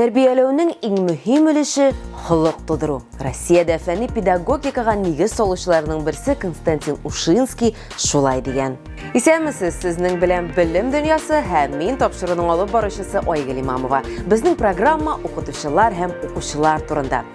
Тәрбияләүнең иң мөһим өлеше холык тудыру. Россиядә фәнни педагогикага нигез салучыларның берсе Константин Ушинский шулай дигән. Исәнмесез, сезнең белән белем дөньясы һәм мин тапшыруның алып баручысы Айгөл Имамова. Безнең программа укытучылар һәм укучылар турында.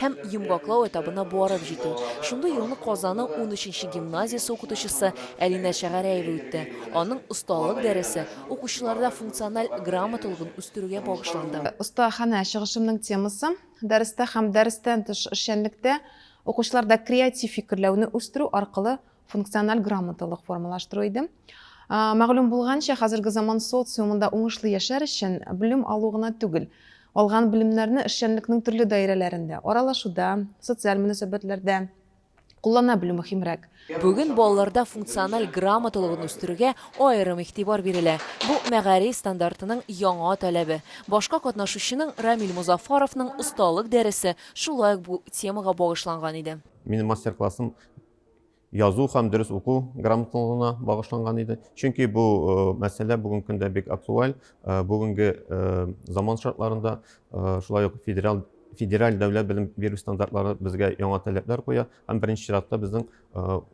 һәм йомгаклау этабына барып җитү. Шундый юлны Казанның унөченче гимназиясе укытучысы Әлинә Шәгәрәева үтте. Аның осталык дәресе укучыларда функциональ грамоталыгын үстерүгә багышланды. Остаханә чыгышымның темасы, дәрестә һәм дәрестән тыш эшчәнлектә укучыларда креатив фикерләүне үстерү аркылы функциональ грамоталык формалаштыру иде. Мәгълүм булганча, хәзерге заман социумында уңышлы яшәр өчен белем алу гына түгел, алган белемнәрне эшчәнлекнең төрле даирәләрендә, аралашуда, социаль мөнәсәбәтләрдә куллана белү мөһимрәк. Бүген балаларда функциональ грамоталыгын үстерүгә аерым игътибар бирелә. Бу, мәгариф стандартының яңа таләбе. Башка катнашучының, Рамил Мозафаровның осталык дәресе шулай ук бу темага багышланган иде. Минем мастер-классым язу һәм дөрес уку грамоталыгына багышланган иде. Чөнки бу э, мәсьәлә бүгенге көндә бик актуаль. Э, бүгенге э, заман шартларында шулай ук федераль федераль дәүләт белем бирү стандартлары безгә яңа таләпләр куя һәм беренче чиратта безнең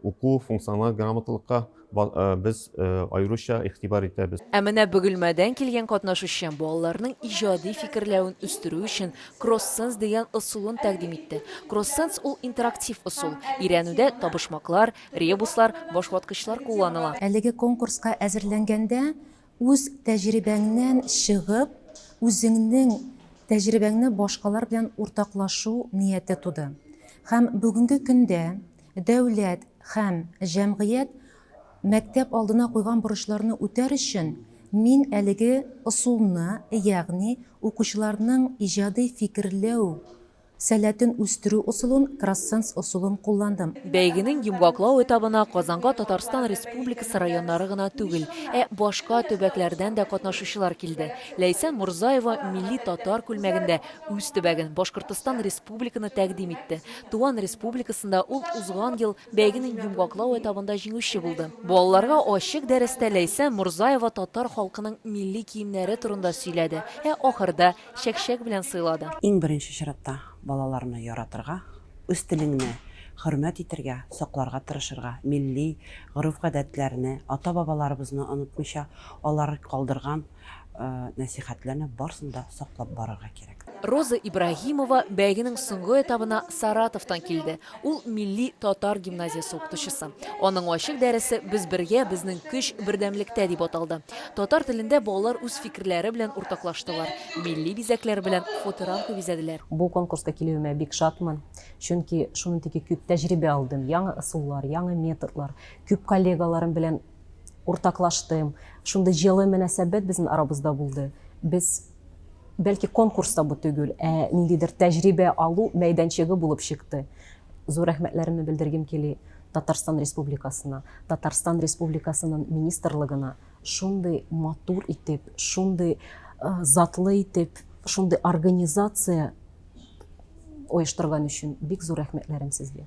уку функциональ грамоталыкка Без аеруча игътибар итәбез. Ә менә Бөгелмәдән килгән катнашучы балаларның иҗади фикерләвен үстерү өчен Кроссенс дигән ысулын тәкъдим итте. Кроссенс ул интерактив ысул. Өйрәнүдә табышмаклар, ребуслар, башваткычлар кулланыла. Әлеге конкурска әзерләнгәндә үз тәҗрибәңнән чыгып, үзеңнең тәҗрибәңне башкалар белән уртаклашу нияте туды. Һәм бүгенге көндә Дәүләт һәм җәмгыять мәктәп алдына куйган бурычларны үтәр өчен мин әлеге ысулны, ягъни укучыларның иҗади фикерләү сәләтен үстерү ысулын, кроссенс ысулын кулландым. Бәйгенең йомгаклау этабына Казанга Татарстан Республикасы районнары гына түгел, ә башка төбәкләрдән дә катнашучылар килде. Ләйсән Морзаева милли татар күлмәгендә үз төбәген, Башкортостан Республиканы тәкъдим итте. Туган республикасында ул узган ел бәйгенең йомгаклау этабында җиңүче булды. Балаларга ачык дәрестә Ләйсән Морзаева татар халкының милли киемнәре турында сөйләде, ә ахырда чәкчәк белән сыйлады. Иң беренче чиратта балаларны яратырга, үз телеңне хөрмәт итергә, сакларга тырышырга, милли гореф-гадәтләрне, ата-бабаларыбызны онытмыйча, алар калдырган нәсыйхәтләрне барсын да саклап барырга кирәк. Роза Ибраһимова бәйгенең соңгы этабына Саратовтан килде. Ул милли татар гимназиясе укытучысы. Аның ачык дәресе Без бергә, безнең көч бердәмлектә дип аталды. Татар телендә балалар үз фикерләре белән уртаклаштылар, милли бизәкләр белән фоторамка бизәделәр. Бу конкурска килүемә бик шатмын, чөнки шуның теге күп тәҗрибә алдым, яңа ысуллар, яңа методлар, күп коллегаларым белән. уртаклаштым. Шундый җылы мөнәсәбәт безнең арабызда булды. Без бәлки конкурс та бу түгел, ә ниндидер тәҗрибә алу мәйданчыгы булып чыкты. Зур рәхмәтләремне белдергем кили Татарстан Республикасына, Татарстан Республикасының министрлыгына шундый матур итеп, шундый затлы итеп, шундый организация оештырган өчен бик зур рәхмәтләрем сезгә.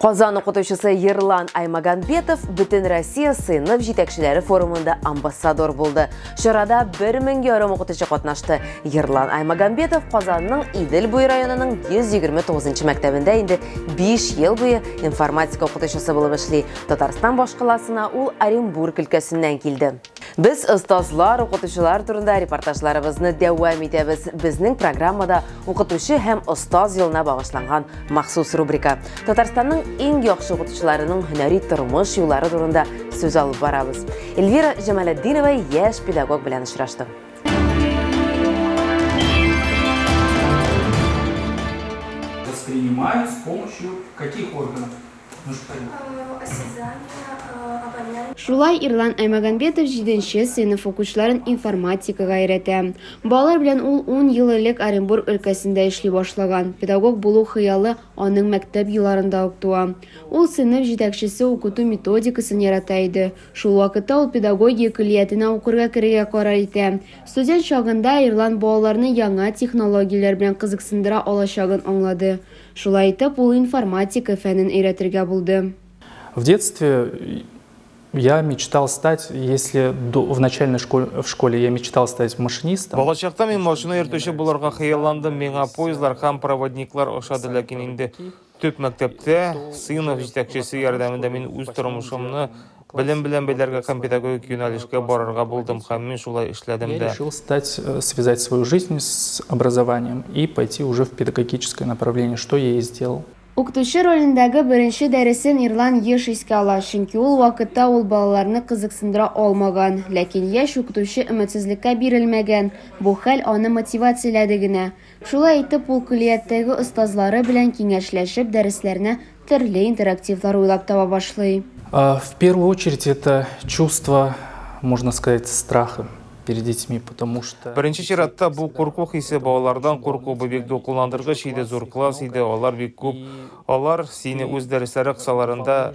Казан укытучысы Ерлан Аймаганбетов Бүтін Россия сыйныф җитәкчеләре форумында амбассадор булды. Чарада бер мең ярым укытучы катнашты. Ерлан Аймаганбетов Казанның Идел буе районының 129 мәктәбендә инде 5 ел буе информатика укытучысы булып эшли. Татарстан башкаласына ул Оренбург өлкәсеннән килде. Без остазлар, укытучылар турында репортажларыбызны дәвам итәбез. Безнең программада укытучы һәм остаз елына багышланган махсус рубрика. Татарстанның иң яхшы укытучыларының һөнәри тормыш юллары турында сүз алып барабыз. Эльвира Җамалетдинова яшь педагог белән очрашты. Воспринимают с помощью каких органов? Шулай Ирлан Аймагомбетов җиденче сыйныф укучыларын информатикага өйрәтә. Балалар белән ул ун ел элек Оренбург өлкәсендә эшли башлаган. Педагог булу хыялы аның мәктәп елларында ук туа. Ул сыйныф җитәкчесе укыту методикасын ярата иде. Шул вакытта ул педагогия көллиятенә укырга керергә карар итә. Студент чагында Ирлан балаларны яңа технологияләр белән кызыксындыра алачагын аңлады. Шулай итеп, ул информатика фәнен өйрәтергә булды. В детстве я мечтал стать, если в начальной школе, в школе я мечтал стать машинистом. Балачакта мин машина йөртүче булырга хыялландым, миңа поездлар һәм проводниклар ошады, ләкин инде төп мәктәптә сыйныф җитәкчесе ярдәмендә мин үз тормышымны Белем белән бәйләргә һәм педагогик юнәлешкә барырга булдым һәм мин шулай эшләдем дә. Я решил стать, связать свою жизнь с образованием и пойти уже в педагогическое направление, что я и сделал. Укытучы ролендәге беренче дәресен Ирлан еш искә ала, чөнки ул вакытта ул балаларны кызыксындыра алмаган. Ләкин яшь укытучы өметсезлеккә бирелмәгән, бу хәл аны мотивацияләде генә. Шулай итеп, ул көллияттәге остазлары белән киңәшләшеп, дәресләренә төрле интерактивлар уйлап таба башлый. В первую очередь это чувство, можно сказать, страха перед детьми, потому что... Беренче чиратта бу курку хисе, балалардан курку, бу бик дулкынландыргыч иде, зур класс иде, алар бик күп, алар сине үз дәресләре кысаларында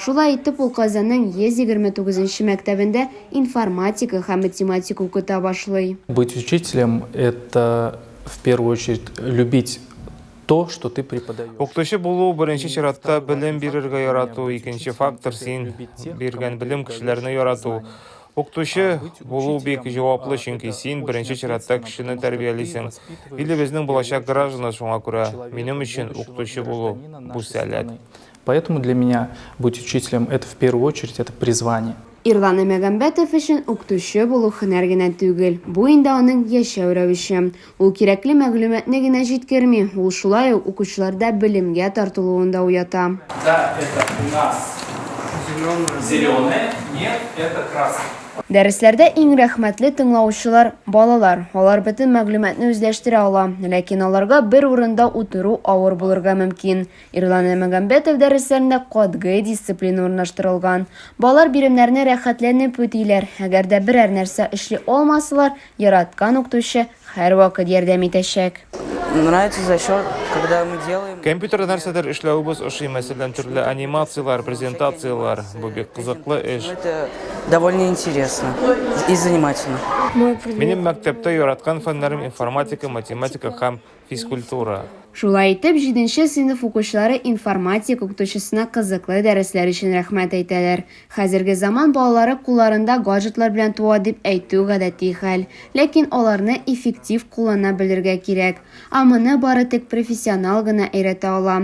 Шулай итеп, ул Казанның 129-нче мәктәбендә информатика һәм математика укыта башлый. Быть учителем, это в первую очередь любить то, что ты преподаешь. Укытучы булу, беренче чиратта, белем бирергә ярату, икенче фактор, син биргән белем кешеләрне ярату. Укытучы булу бик җаваплы, чөнки син, беренче чиратта, кешене тәрбиялисең. Илебезнең булачак гражданы, шуңа күрә минем өчен укытучы булу, бу сәләт. Поэтому для меня быть учителем это в первую очередь это призвание. Ирланы Мәгәмбәтов өчен укытучы булу һөнәр генә түгел, бу инде аның яшәү рәвеше. Ул кирәкле мәгълүматны генә җиткерми, ул шулай ук укучыларда белемгә тартылуын да уята. Да, это у нас зеленое, нет, это красное. Дәресләрдә иң рәхмәтле тыңлаучылар, балалар. Алар бөтен мәгълүматны үзләштерә ала, ләкин аларга бер урында утыру авыр булырга мөмкин. Ирлан Әлмәгамбәтов дәресләрендә катгый дисциплина урнаштырылган. Балалар биремнәрне рәхәтләнеп үтиләр, әгәр дә берәр нәрсә эшли алмасалар, яраткан укытучы һәрвакыт ярдәм итәчәк. Нравится за счет, когда мы делаем. Компьютерда нәрсәдер эшләвебез ошый, мәсәлән, төрле анимацияләр, презентацияләр. Бу бик кызыклы эш. Это довольно интересно и занимательно. Минем мәктәптә яраткан фәннәрем информатика, математика һәм. физкультура. Шулай итеп, җиденче сыйныф укучылары информатик укытучысына кызыклы дәресләр өчен рәхмәт әйтәләр. Хәзерге заман балалары кулларында гаджетлар белән туа дип әйтү гадәти хәл. Ләкин аларны эффектив куллана белергә кирәк. Ә моны бары тик профессионал гына өйрәтә ала.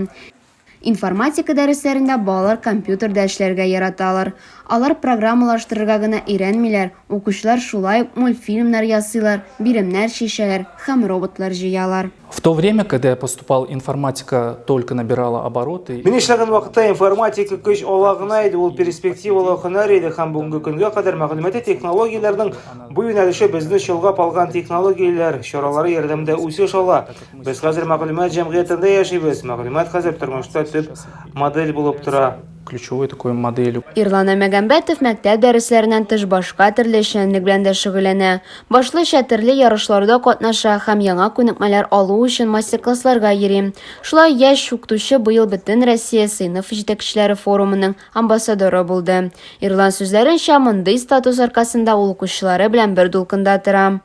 Информатика дәресләрендә балалар компьютерда эшләргә яраталар. Алар программалаштырырга гына өйрәнмиләр, укучылар шулай ук мультфильмнар ясыйлар, биремнәр чишәләр һәм роботлар җыялар. В то время, когда я поступал, информатика только набирала обороты. Мин эшләгән вакытта информатика көч ала гына иде, ул перспективалы һөнәр иде һәм бүгенге көнгә кадәр мәгълүмати технологияләрнең бу юнәлеше безне чолгап алган технологияләр чаралары ярдәмендә үсеш ала. Без хәзер мәгълүмат җәмгыятендә яшибез, мәгълүмат хәзер тормышта төп модель булып тора. ключевой такой моделью. Ирлана Мәгәмбәтов мәктәп дәресләреннән тыш башка төрле эшчәнлек белән дә шөгыльләнә. Башлыча төрле ярышларда катнаша һәм яңа күнекмәләр алу өчен мастер-классларга йөри. Шулай яшь укытучы быел Бөтенроссия сыйныф җитәкчеләре форумының амбассадоры булды. Ирлан сүзләренчә, мондый статус аркасында ул укучылары белән бер дулкында тора.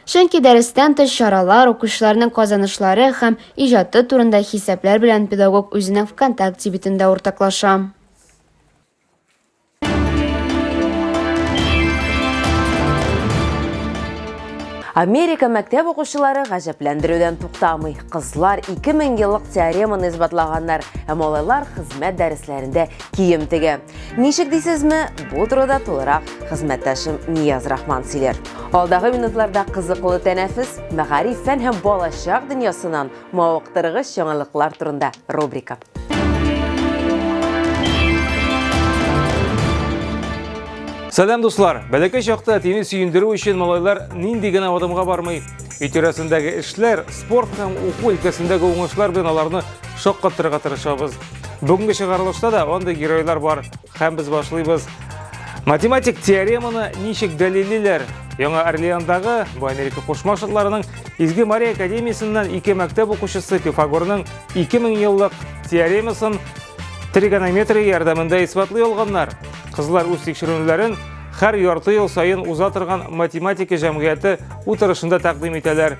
Чөнки дәрестән тыш чаралар, укучыларның казанышлары һәм иҗаты турында хисаплар белән педагог үзенең ВКонтакте битендә уртаклаша. Америка мәктәп укучылары гаҗәпләндерүдән туктамый. Кызлар 2000 еллык теореманы исбатлаганнар, ә малайлар хезмәт дәресләрендә кием тегә. Ничек дисезме, бу турыда тулырак хезмәттәшем Нияз Рахман сөйләр. Алдагы минутларда кызыклы тәнәфес, мәгариф, фән һәм балачак дөньясыннан мавыктыргыч яңалыклар турында рубрика. Сәлам дуслар! Бәләкәй чакта тине сөендерү өчен малайлар нинди генә адымга бармый. Өй тирәсендәге эшләр, спорт һәм уку өлкәсендәге уңышлар белән аларны шаккатырырга тырышабыз. Бүгінгі шығарылышта да онды геройлар бар, хәм біз башлыйбыз. Математик теореманы нишек дәлелиләр? Яңа Орлеандағы бу Америка Кушма Штатларының Изге Мария академиясеннән ике мәктәп укучысы Пифагорның 2000 еллык теоремасын тригонометрия ярдәмендә исбатлый алганнар. Кызлар үз тикшеренүләрен хәр ярты ел сайын уза торган математика җәмгыяте утырышында тәкъдим итәләр.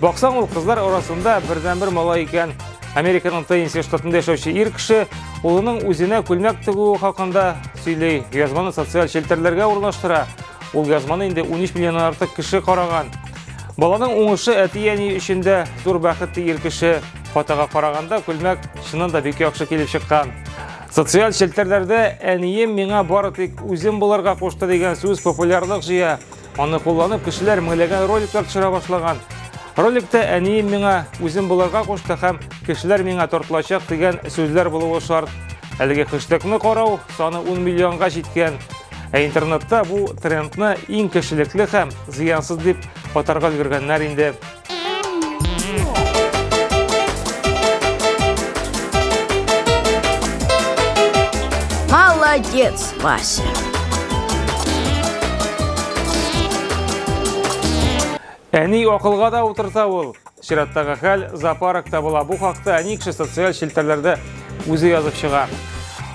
Баксаң ул кызлар арасында бердәнбер малай икән. Американың Теннесси штатында яшәүче ир кеше улының үзенә күлмәк тегүе хакында сөйли, язманы социаль челтәрләргә урнаштыра. Ул язманы инде 13 миллионнан артык кеше караган. Баланың уңышы әти-әни өчен дә зур бәхет ир кеше. Фотога караганда күлмәк чыннан да бик яхшы килеп чыккан. Социаль челтәрләрдә әнием миңа бары тик үзем булырга кушты дигән сүз популярлык җыя. Аны кулланып, кешеләр меңләгән роликлар төшерә башлаган. Роликта әнием миңа үзем булырга кушты һәм кешеләр миңа тартылачак дигән сүзләр булуы шарт. Әлеге хэштегны карау саны 10 миллионга җиткән. Ә интернетта бу трендны иң кешелекле һәм зыянсыз дип атарга өлгергәннәр инде. Молодец, Вася. Әни акылга да утырта ул. Чираттагы хәл зоопарк табыла. Бу хакта әни кеше социаль челтәрләрдә үзе язып чыга.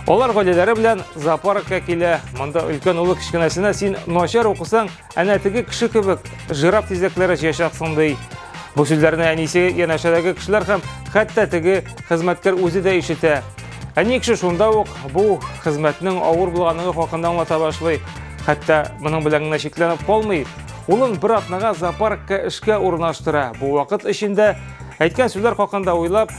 Алар гаиләләре белән зоопаркка килә. Монда өлкән улы кечкенәсенә син начар укысаң, Әнә теге кеше кебек жираф тизәкләре җыячаксың ди. Бу сүзләрне әнисе, янәшәдәге кешеләр һәм хәтта теге хезмәткәр үзе дә ишетә. Әни кеше шунда ук бу хезмәтнең авыр булганлыгы хакында аңлата башлый. Хәтта моның белән генә чикләнеп калмый. Улын бер атнага зоопаркка эшкә урнаштыра. Бу вакыт эчендә әйткән сүзләр хакында уйлап,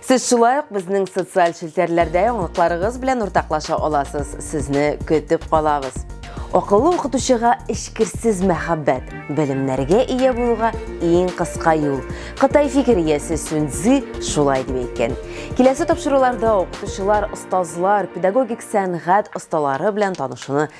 Сез шулай ук безнең социаль челтәрләрдә яңалыкларыгыз белән уртаклаша аласыз. Сезне көтеп калабыз. Акыллы укытучыга эчкерсез мәхәббәт, белемнәргә ия булуга иң кыска юл. Кытай фикер иясе Сюньцзы шулай дип әйткән. Киләсе тапшыруларда укытучылар, остазлар, педагогик сәнгать осталары белән танышуны